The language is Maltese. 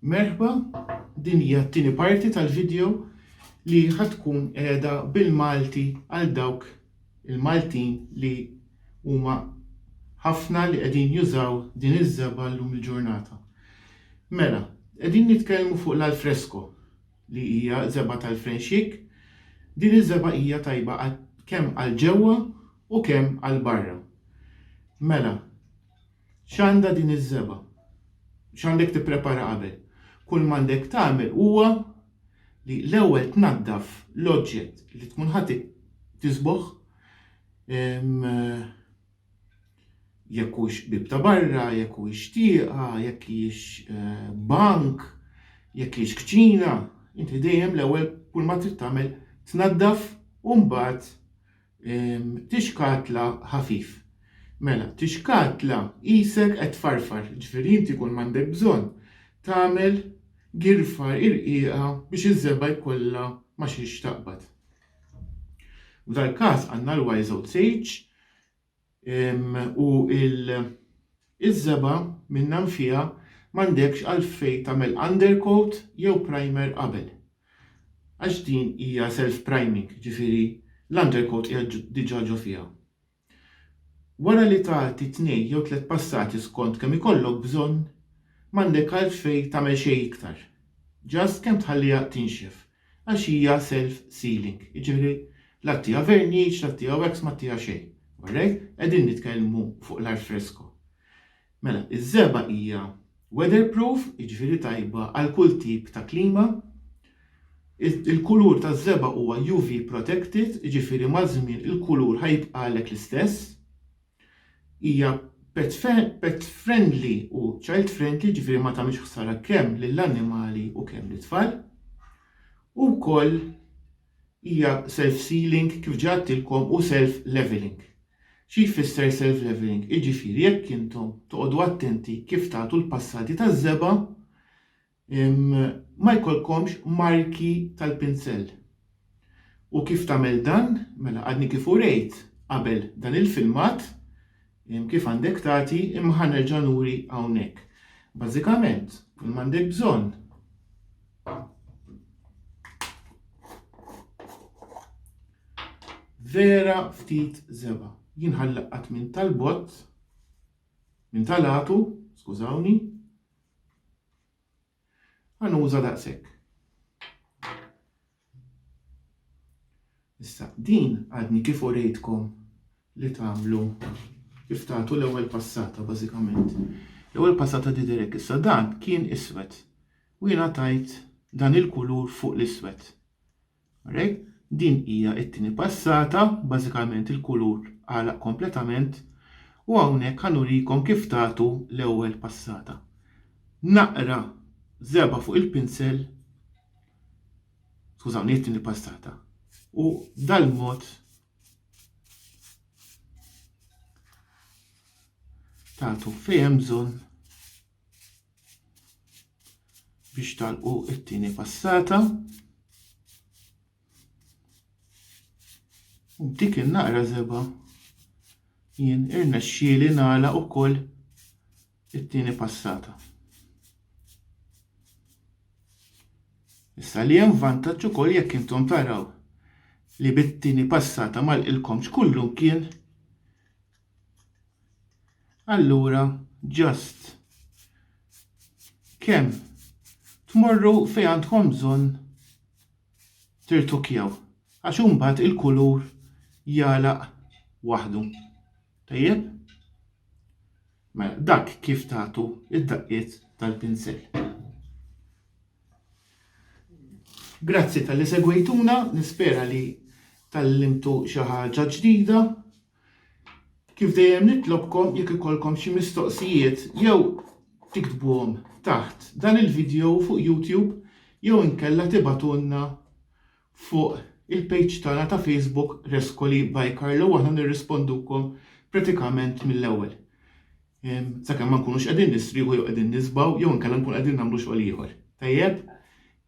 Merħba, din hija t-tieni parti tal-video li ħad tkun qiegħda bil-Malti għal dawk il-Maltin li huma ħafna li qegħdin jużaw din iż-żebgħa llum il-ġurnata. Mela, qegħdin nitkellmu fuq l-alfresko li hija żebgħa tal-frenxik. Din iż-żebgħa hija tajba kemm għal ġewwa U kemm għal barra. Mela, x'għandha din iż-żebgħa? X'għandek tipprepara qabel? Kull m'għandek tagħmel huwa li l-ewwel tnaddaf l-oġġett li tkun ħa tiżbogħ, jekk hux bieb ta' barra, jekk hux tieqa, jekk hijiex bank, jekk hijiex kċina, inti dejjem l-ewwel kull ma trid tagħmel tnaddaf u mbagħad Ehm, tixkatla ħafif. Mela, tixkatla qisek qed tfarfar, ġifieri inti kull m'għandek bżonn tagħmel girfa irqiqa biex iż-żebgħa jkollha ma xiex taqbad. F'dal-każ għandna l-YZH u l-żebgħa min-nam fiha m'għandekx għalfejn tagħmel undercoat jew primer qabel għax din hija self priming, jiġifieri l-undercoat qiegħed diġà ġo fiha. Wara li tagħti tnejn jew tliet passati skont kemm ikollok bżonn, m'għandek għalfejn tagħmel xejn iktar, just kemm tħalliha tinxef għax hija self sealing, jiġifieri la ttiha verniċ, la ttiha wax, ma ttiha xejn. Alright? Qegħdin nitkellmu fuq l-art fresco. Mela, iż-żebgħa hija weather proof, jiġifieri tajba għal kull tip ta' klima. Il-kulur taż-żebgħa huwa UV protected, jiġifieri maż-żmien il-kulur ħa jibqagħlek l-istess. Hija pet friendly u child friendly, jiġifieri ma tagħmilx ħsara kemm lill-annimali u kemm lit-tfal. U wkoll hija self-sealing kif ġa għadtilkom u self-leveling. Xi jfisser self-leveling? Jiġifieri jekk intom toqgħodu attenti kif tagħtu l-passati taż-żebgħa, Ma jkollkomx marki tal-pinsell. U kif tagħmel dan? Mela għadni kif urejt qabel dan il-filmat kif għandek tagħti imma ħa nerġa' nuri hawnhekk. Bażikament, kull m'għandek bżonn vera ftit żeba. Jien ħallaqqat minn tal-bott, minn tal-għatu, skużawni, Għanuża daqshekk. Issa, din għadni kif urejtkom li tagħmlu kif tagħtu l-ewwel passata bażikament. L-ewwel passata tidher hekk issa dan kien iswed u jiena tajt dan il-kulur fuq l-iswed. Alright? Din hija t-tieni passata, bażikament il-kulur għalaq kompletament u hawnhekk ħa nurikom kif tagħtu l-ewwel passata. Naqra żebgħa fuq il-pinsel, skużawni hi t-tieni passata, u dal-mod tagħtu fejn hemm bżonn biex talqu it-tieni passata. U b'dik il-naqra zeba jien irnexxieli nagħlaq ukoll it-tieni passata. Issa li hemm vantaġġ ukoll jekk intom taraw li bit-tieni passata mal-ilkomx kullum kien Allura ġast kemm tmorru fejn għandkom bżonn tirtukjaw għax imbagħad il-kulur jalaq waħdu. Tajjeb? Mela, dak kif tagħtu id-daqqiet tal-pinsel. Grazzi tal-li segwejtuna, nispera li tal-limtu xi ħaġa ġdida. Kif dejjem nitlobkom jekk ikollkom xi mistoqsijiet jew tiktbuhom taħt dan il-video fuq YouTube jew inkella tibgħatulna fuq il-page tagħna ta' Facebook Rescoli by Carlo u aħna nirrispondukom pratikament mill-ewwel. Sakemm ma nkunux qegħdin nistrieħu jew qegħdin nisbgħu jew inkella nkun qegħdin nagħmlu xogħol ieħor. Tajjeb?